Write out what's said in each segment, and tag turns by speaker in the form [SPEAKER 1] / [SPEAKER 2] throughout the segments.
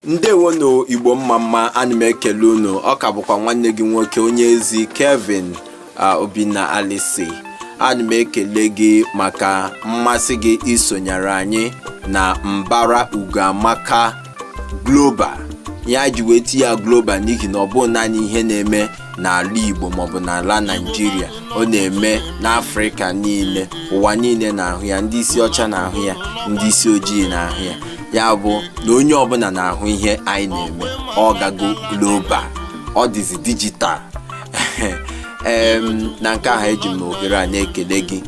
[SPEAKER 1] ndewonu igbo mma mma ana m ekele unu ọ ka bụkwa nwanne gị nwoke onye ezi kevin obinna alisi ana m ekele gị maka mmasị gị isonyere anyị na mbara ugoamaka global ihe e ji wee tinye ya global n'ihi na ọ bụghị naanị ihe na-eme n'ala Igbo maọbụ n'ala Naịjirịa ọ na-eme n'Afrịka niile ụwa niile na-ahụ ya ndị isi ọcha na-ahụ ya ndị isi ojii na-ahụ ya ya bụ na onye ọbụla na-ahụ ihe anyị na-eme ọ gago global ọ dịzi dijital na nke ahụ eji m ohere a na-ekele gị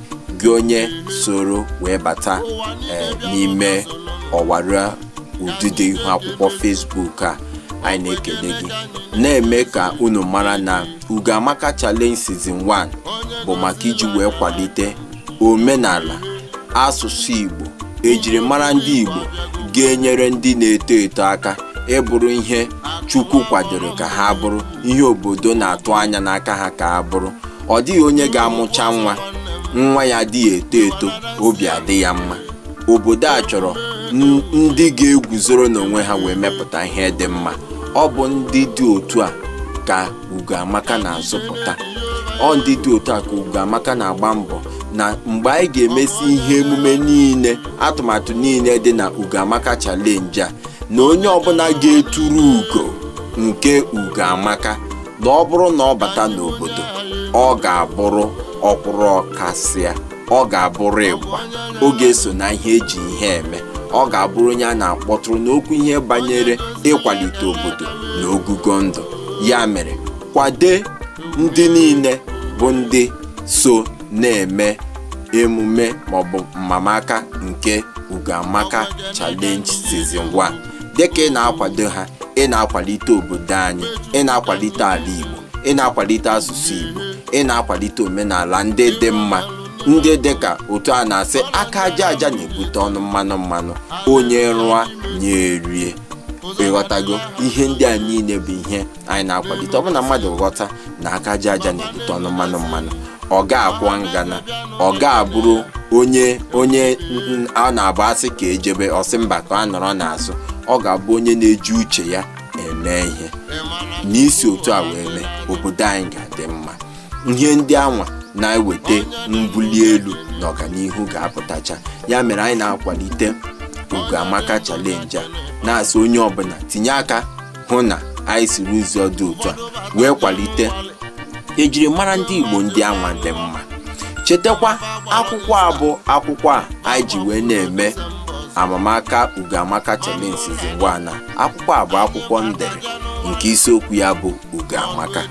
[SPEAKER 1] gị onye soro wee bata eh, n'ime ọwara ụdịdị ihu akwụkwọ Facebook a anyị na-ekele gị na-eme ka unu mara na Ugoamaka Challenge Season 1 bụ maka iji wee kwalite omenala asụsụ Igbo ejirimara ndị Igbo ga-enyere ndị na-eto eto aka ịbụrụ ihe Chukwu kwadoro ka ha bụrụ ihe obodo na-atụ anya n'aka ha ka ha bụrụ ọ dịghị onye ga-amụcha nwa nwa ya adịghị eto eto obi adị ya mma obodo a chọrọ ndị ga-eguzoro n'onwe ha wee mepụta ihe dị mma ọ bụ ndị dị otu a ka Ugoamaka na-azụpụta ọ ndị dị otu a ka Ugoamaka na-agba mbọ na mgbe anyị ga-emesi ihe emume niile atụmatụ niile dị na Ugoamaka challenge a na onye ọbụla ga-eturu ugo nke Ugoamaka na ọ bụrụ na ọ bata n'obodo ọ ga-abụrụ ọkwụrụ ọkasịa ọ ga-abụrụ ịgba ọ ga-eso na ihe e ji ihe eme ọ ga-abụrụ onye a na-akpọtụrụ n'okwu ihe banyere ịkwalite obodo na ogogo ndụ ya mere kwade ndị niile bụ ndị so na-eme emume maọbụ mmamaka nke Ugoamaka Challenge Season 1 dịka ị na-akwado ha ị na-akwalite obodo anyị ị na-akwalite ala Igbo ị na-akwalite asụsụ Igbo ị na-akwalite omenala ndị dị mma ndị dị ka otu a na-asị aka aja aja na-ebute ọnụ mmanụ mmanụ onye rụọ nya erie ị ghọtago ihe ndị a niile bụ ihe anyị na-akwalite ọ bụ na mmadụ ghọta na aka aja aja na-ebute ọnụ mmanụ mmanụ ọ ga-akwọ ngana ọ ga-abụrụ onye onye n- a na-abụ a sị ka e jebe ọ sị mba ka a nọrọ n'azụ ọ ga-abụ onye na-eji uche ya eme ihe anyị si otu a wee mee obodo anyị ga-adị mma ihe ndị anwa na-eweta mbuli elu na ọganihu ga-apụtacha ya mere anyị na-akwalite ugoamaka challenge a na-asị onye ọbụla tinye aka hụ na anyị siri ụzọ dị otu a wee kwalite ejirimara ndị igbo ndị anwa dị mma chetakwa akwụkwọ a bụ akwụkwọ a anyị ji wee na-eme amamaka ugoamaka challenge season 1 a akwụkwọ a bụ akwụkwọ m dere nke isiokwu ya bụ ugo amaka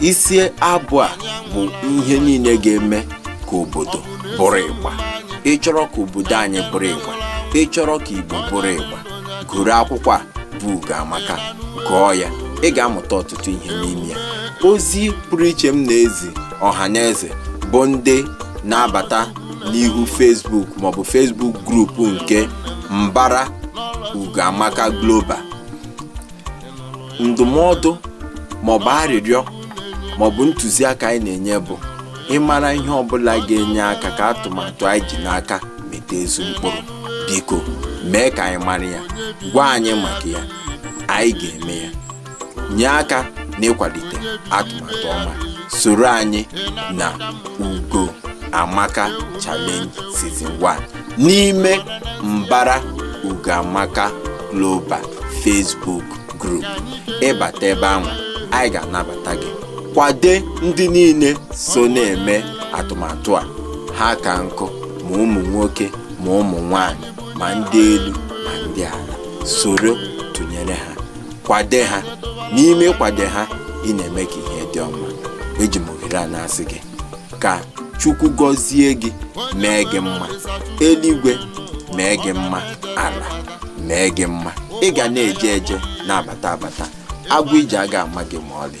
[SPEAKER 1] isi abụ a bụ ihe niile ga-eme ka obodo bụrụ ịgba ị chọrọ ka obodo anyị bụrụ ịgba ị chọrọ ka igbo bụrụ ịgba goru akwụkwọ a bụ ugo amaka gụọ ya ị ga-amụta ọtụtụ ihe n'ime ya ozi pụrụ iche m na-ezi ọha na eze bụ ndị na-abata n'ihu Facebook maọbụ Facebook group nke Mbara Ugoamaka Global ndụmọdụ maọbụ arịrịọ maọbụ ntụziaka anyị na-enye bụ ị mara ihe ọbụla ga-enye aka ka atụmatụ anyị ji n'aka mịta ezi mkpụrụ biko mee ka anyị mara ya gwa anyị maka ya anyị ga-eme ya nye aka n'ịkwalite atụmatụ ọma soro anyị na ugo amaka challenge season 1 n'ime mbara ugo amaka global facebook group ị bata ebe ahụ anyị ga-anabata gị kwade ndị niile so na-eme atụmatụ a ha ka nkụ ma ụmụ nwoke ma ụmụ nwanyị ma ndị elu ma ndị ala soro tụnyere ha kwade ha n'ime ịkwade ha ị na-eme ka ihe dị ọma eji m ohere a na-asị gị ka chukwu gọzie gị mee gị mma eluigwe mee gị mma ala mee gị mma ị ga na-eje eje na-abata abata agwụ ije aga ama gị ma ọlị